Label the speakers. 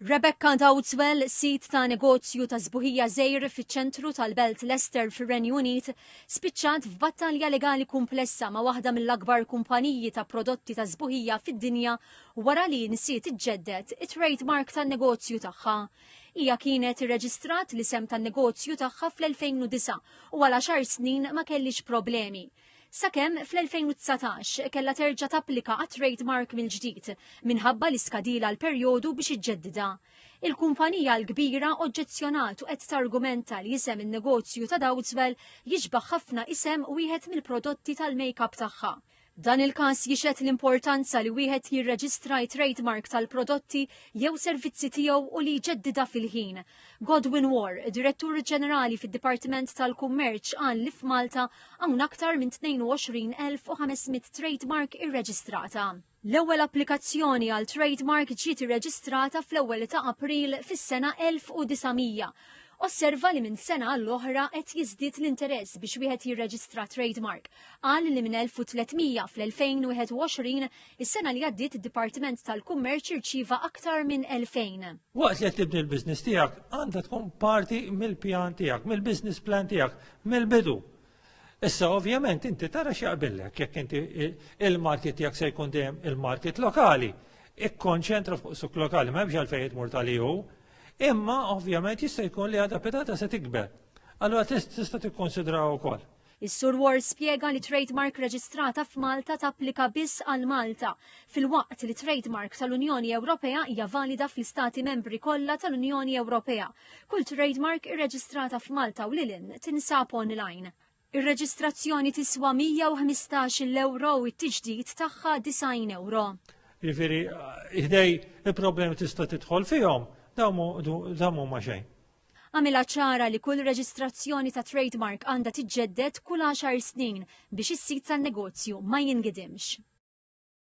Speaker 1: Rebecca Dowdswell, sid ta' negozju ta' sbuħija żgħir fiċ-ċentru tal-belt Leicester fir-Renju Unit, spiċċat f'battalja legali kumplessa ma' waħda mill-akbar kumpaniji ta' prodotti ta' sbuħija fid-dinja wara li nsiet iġġedded it-trade mark tan-negozju tagħha. Hija kienet irreġistrat l-isem tan-negozju tagħha fl-2009 u għal għaxar snin ma kellhiex problemi. sakemm fl-2019 kellha terġa' tapplika għat-trade mark mill-ġdid minħabba li skadilha l-perjodu biex iġġeddidha. Il-kumpanija l-kbira oġġezzjonat u qed targumenta li isem in-negozju ta' Dowdswell jixbah ħafna isem wieħed mill-prodotti tal-makeup tagħha. Dan il-każ jixhed l-importanza li wieħed jirreġistra t-trade mark tal-prodotti jew servizzi tiegħu u li jġeddidha fil-ħin, Godwin Warr, Direttur Ġenerali fid-Dipartiment tal-Kummerċ qal li f'Malta hawn aktar minn 22,500 trade mark irreġistrata. L-ewwel applikazzjoni għal trade mark ġiet irreġistrata fl-ewwel ta' April fis-sena 1900. Osserva li minn sena għall-oħra qed jiżdied l-interess biex wieħed jirreġistra trade mark. Qal li minn 1300 fl-2021 Is-sena li għaddiet id-Dipartiment tal-Kummerċ irċieva aktar minn 2000. Waqt li qed tibni
Speaker 2: l-business tiegħek, għandha tkun parti mill-pjan tiegħek, mill-business plan tiegħek, mill-bidu. Issa ovvjament inti tara x'jaqbillek jekk inti il-market tiegħek se jkun dejjem il-market lokali. Ikkonċentra fuq suk lokali, ma hemmx għalfejn jitmur tal-EU, imma ovvjament jista' jkun li għadha pedata se tikber. Allura tista' tikkonsidraw ukoll. Is-Sur Ward
Speaker 1: spjega li trade mark reġistrata f'Malta tapplika biss għal Malta, filwaqt li trade mark tal-Unjoni Ewropea hija valida fl-Istati Membri kollha tal-Unjoni Ewropea. Kull trade mark irreġistrata f'Malta u lil hinn tinsab online. Ir-reġistrazzjoni tiswa 115 ewro u t-tiġdid tagħha 90 ewro. Jiġifieri
Speaker 2: ħdej il-problemi tista' tidħol fihom, damu ma xejn. Għamilha ċara
Speaker 1: li kull reġistrazzjoni ta' trade mark għandha tiġġedded kull għaxar snin biex is-sit tan-negozju ma jingidimx.